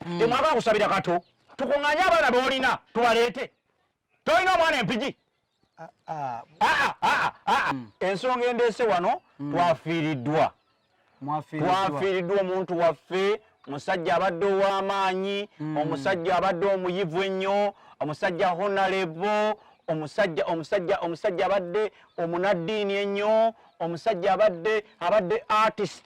mm. temwagala kusabira kato tukunganye abaana bolina tubaleete tolina omwana empigi ah, ah. Ah, mm. ensonga endeese wano mm. twafiiriddwa twafiiriddwa omuntu waffe musajja abadde ow'amaanyi mm. omusajja abadde omuyivu ennyo omusajja honalebo omusajja omusajja omusajja abadde omunaddiini ennyo omusajja abadde abadde artist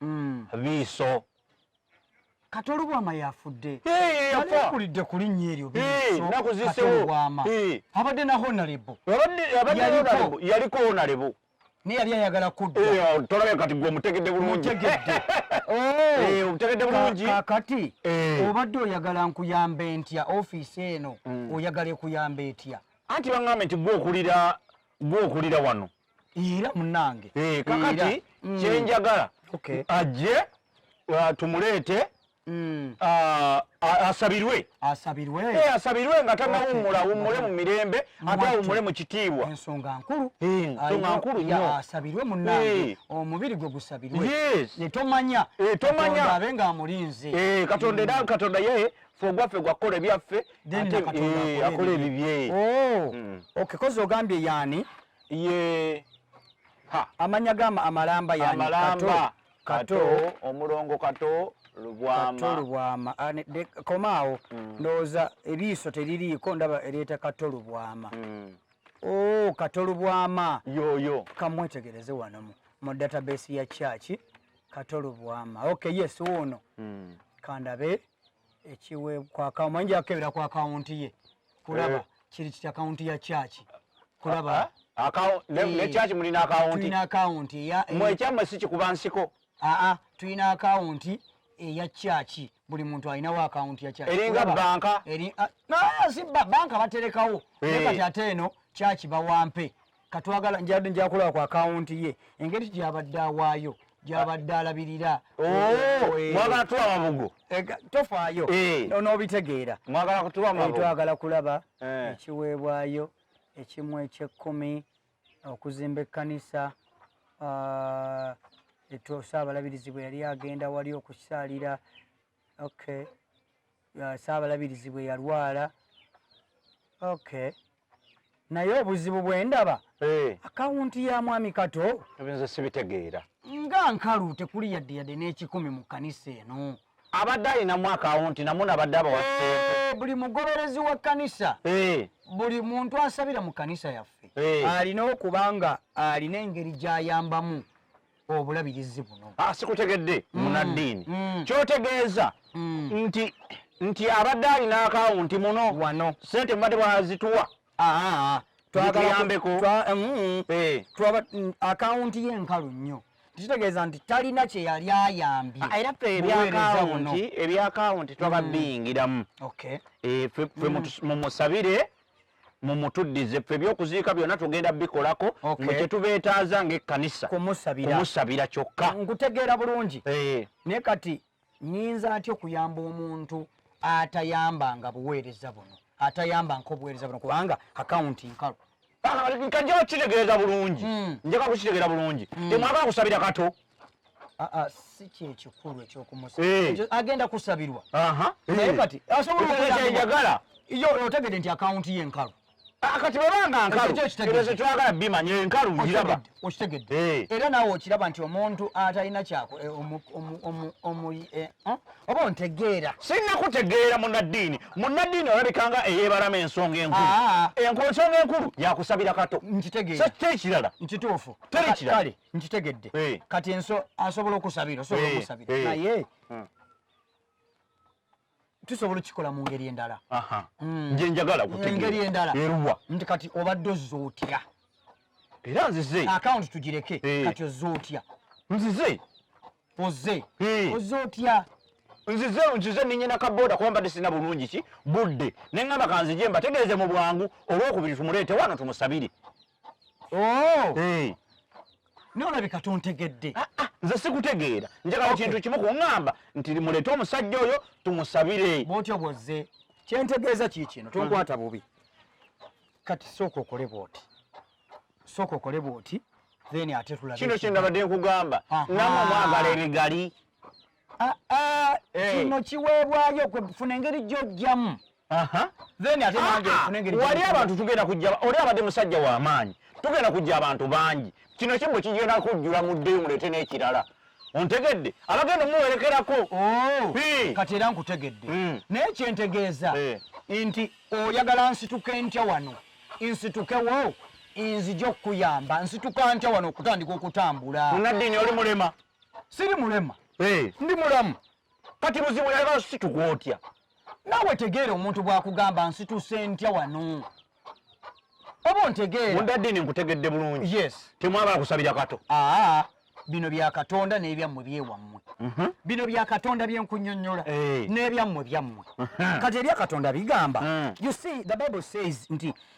mm. biiso kati olubwama yafudde yakulidde ku linnya eryo biisoolubwama abadde na honalebo yaliko honalebo naye yali ayagala kuddtolabye kati gwe omutegedde bulungitegedde oh. bulungi kakati obadde oyagala nkuyamba entya ofiisi eno mm. oyagala ekuyamba etya anti baŋambe nti gwokulira gwokulira wano Ira munange. Eh kakati mm. kyenjagala. Okay. Ajje uh, tumuleete mm. uh, asabirwe asabirwe eh asabirwe nga tanawumula okay. wumule mu mirembe ate wumule mu kitiibwa ensonga nkulu eh ensonga nkulu ya asabirwe munange hey. Eh. omubiri gwe gusabirwe yes. ne tomanya eh tomanya abe nga amulinze eh katonda mm. katonda yeye fwogwaffe gwakukola ebyaffe akola ebibye oh. mm. okay kozi ogambye yani ye ha amanya gama amalamba yani amalamba kato, kato omulongo kato lubwama kato lubwama ane de komao mm. noza ebiso telili ko ndaba eleta kato lubwama mm. oh kato lubwama yo yo kamwetegereze wano mu, mu database ya church kato lubwama okay yes uno mm. kandabe ekiwe kwa kawo manje akebera kwa account ye kulaba eh. kiri kitya account ya church kulaba ah, ah, account ne eh. church muli na account tulina account ya eh. mwe chama sichi kuba nsiko a ah, a tulina account ya church buli muntu alina wa account ya church eringa banka eri na si banka baterekawo kati ate eno church bawampe katwagala njakulaba ku akawunti ye engeri gyabadde awaayo gyabadde alabirira oh, eh. mwagala tuwa mabugo eh, tofaayo eh. n'obitegeera twagala kulaba ekiweebwayo ekimu ekyekkumi okuzimba ekkanisa ah, saabalabirizi bwe yali agenda wali okusaalira okay saabalabirizi bwe yalwala okay naye obuzibu bwe ndaba eh. akawunti ya mwami kato ebinze sibitegeera nga nkalu tekuli yadde yadde n'ekikumi mu kkanisa eno abadde alinamu akawunti namu nabadde abawa eh, sente buli mugoberezi wa kkanisa eh. buli muntu asabira mu kkanisa yaffe alina okuba nga alina engeri gy'ayambamu obulabirizi buno ah, sikutegedde mm. munaddiini mm. kyotegeeza mm. nti nti abadde alina akawunti muno wano sente mubadde bwazituwa twagalaambeko eh. akawunti ye nkalu nnyo kitegeeza nti talina kye yali ayambye ah, era ffe ebyakawunti ebyakawunti twababiyingiramu ffe mumusabire mumutuddize ffe ebyokuziika byonna tugenda bikolako nga kyetubeetaaza ngaekkanisa kumusabira kyokka nkutegeera bulungi eh. naye kati nyinza atya okuyamba omuntu atayambanga buweereza buno atayambanga obuweereza buno kubanga akawunti nkalu ah, nkaja okukitegeeza bulungi hmm. njaka kukitegeera bulungi hmm. temwagala kusabira kato aa ah, ah, si kyekikulu ekyokumusaba eh. agenda kusabirwa naye eh. kati asobolaaenjagala yo otegede nti akawunti ye nkalu ah, kati bwebanga nkalukyetwagala bimanya enkalu ngiraba okitegedde eh. era naawe okiraba nti omuntu atalina kyako oba ontegeera sirina kutegeera munaddiini munaddiini olabikanga eyebalama ensonga enkulu ensonga enkulu yakusabira kato nkitegeera so tekirala nkituufu teri kirala nkitegedde eh. kati enso asobola okusabira osobola eh, okusabira eh. naye hmm. tusobola okikola mu ngeri endala hmm. nje njagala kutegeengeri endala eruwa nti kati obadde ozza otya era nzize akawunti tugireke kati ozza otya nzize oze ozza otya nzize nzize ninyina kaboda kuba mbadde sirina bulungi ki budde ne ŋŋamba kanzije mbategeeze mu bwangu olwokubiri tumuleete wano tumusabire Oh! Eh. naye olabika tontegedde ah, ah, nze sikutegeera njagala kintu kimu kuŋŋamba nti muleete omusajja oyo tumusabire bwotyo bwozze kyentegeeza kii kino tonkwata bubi kati sooka okole bwoti sooka okole bwoti then ate tulabekino kyendabadde nkugamba namwe mwagala ebigali ah, ah, eh. kino kiweebwayo kwefuna engeri gyojjamu then ate nange ah, ah. wali abantu tugenda kujja oli abadde musajja w'amaanyi tugenda kujja abantu bangi kino kimbo kigenda kujjula muddeyo muleete n'ekirala ontegedde abagenda omuwerekerako oh, kati era nkutegedde hmm. naye kyentegeeza eh. nti oyagala nsituke ntya wano nsitukewo nzija okukuyamba nsituka ntya wano okutandika okutambula munaddiini oli mulema siri mulema eh. ndi mulamu kati buzibu yaba situka otya nawe tegeera omuntu bwakugamba nsituse ntya wano oba ontegeera mundadini nkutegedde bulungi yes temwabala kusabira kato aa bino bya katonda n'ebyammwe byewammwe mhm. bino bya katonda byenkunyonyola eh. n'ebyammwe byammwe mhm. kati ebya katonda bigamba mhm. you see the bible says nti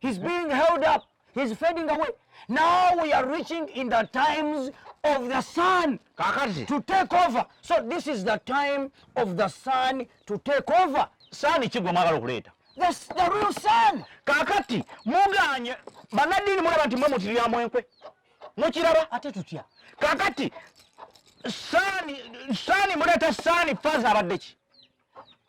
He's being held up. He's fading away. Now we are reaching in the times of the sun Kakati. to take over. So this is the time of the sun to take over. Sun kigwa mwagala okuleeta. That's the real sun. Kakati muganye banadini mulaba nti mwe mutirya mwenkwe. Mukiraba ate tutya. Kakati sani sani muleta sani faza abadde ki?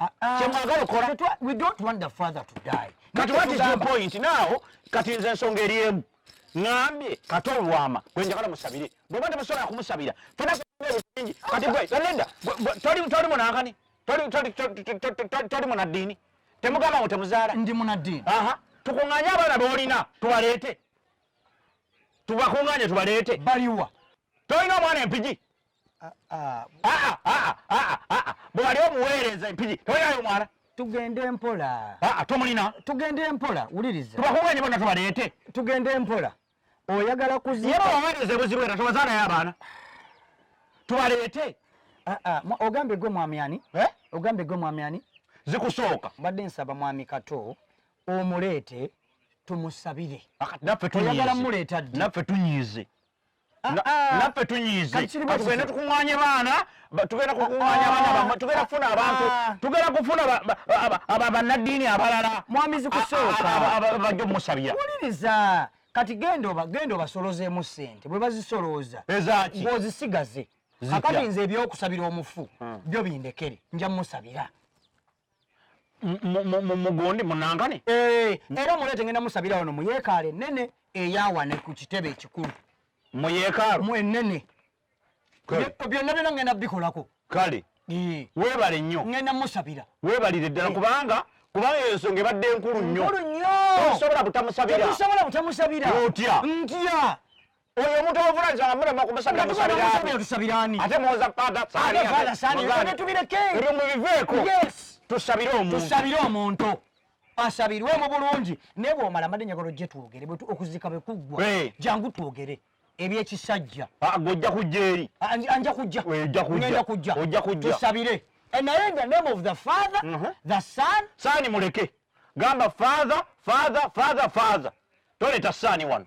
Ah, ah. kyemwagala okola kati what is your point now kati nze ensonga eri emu ngambye kati olwama gwe njagala musabire bweba temusobola kumusabira fenabingi kati gwe leda toli munankani toli munaddiini temugamba ngo temuzaala ndi munaddiini tukunganye abaana bolina tubaleete tubakunganye tubaleete baliwa tolina omwana empigi bwewali omuweereza empiri tewalinayo omwana tugende mpola ah, ah, tomulina tugende mpola wuliriza tubakuganye bona tubaleete tugende mpola oyagala kuzibawaweereza ebuzibu era tobazaanayo abaana tubaleete ah, ogambye gwe mwami ani eh? ogambye gwe mwami ani zikusooka mbadde nsaba mwami kato omuleete tumusabire naffe tunyiize ah, ah. naffe tunyiize tugende tukuŋŋaanye baana tugenda kukuŋŋaanya ah, baana bamwe tugenda kufuna abantu tugenda kufuna bannaddiini abalala mwamizi kusookabajo musabira wuliriza kati genda obasolozeemu ssente bwe bazisolooza ng'ozisigaze akati nze ebyokusabira omufu hmm. byo bindekere nja musabira mugundi munankane eh, era mulete ngenda musabira wano muyekaalo enene eyawane ku kitebe ekikulu muyekaalo enene byonna byona ngenda bikolako kale eh. webale nnyo ngenda musabira webalire ddala eh. kubanga kubanga eyo nsonga ebadde enkulu nnyo osobola butamusabira otya ntya Oyo omuntu ovula nze amulema kumusabira musabirani. Tusabirani. Ate muwoza father sani. Ate father sani. Ate tubireke. Ebyo mubiveeko. Yes. Tusabire omuntu. Tusabire omuntu. Asabirwe mu bulungi. Naye bw'omala mbadde njagala ojje twogere okuzika bwe kuggwa. Jangu twogere. ebyekisajja ah, gojja kujja eri ah, anja kujja ojja kujja ojja kujja tusabire eh, naye the name of the father uh mhm. -huh. the son sani muleke gamba father father father father toleta sani wano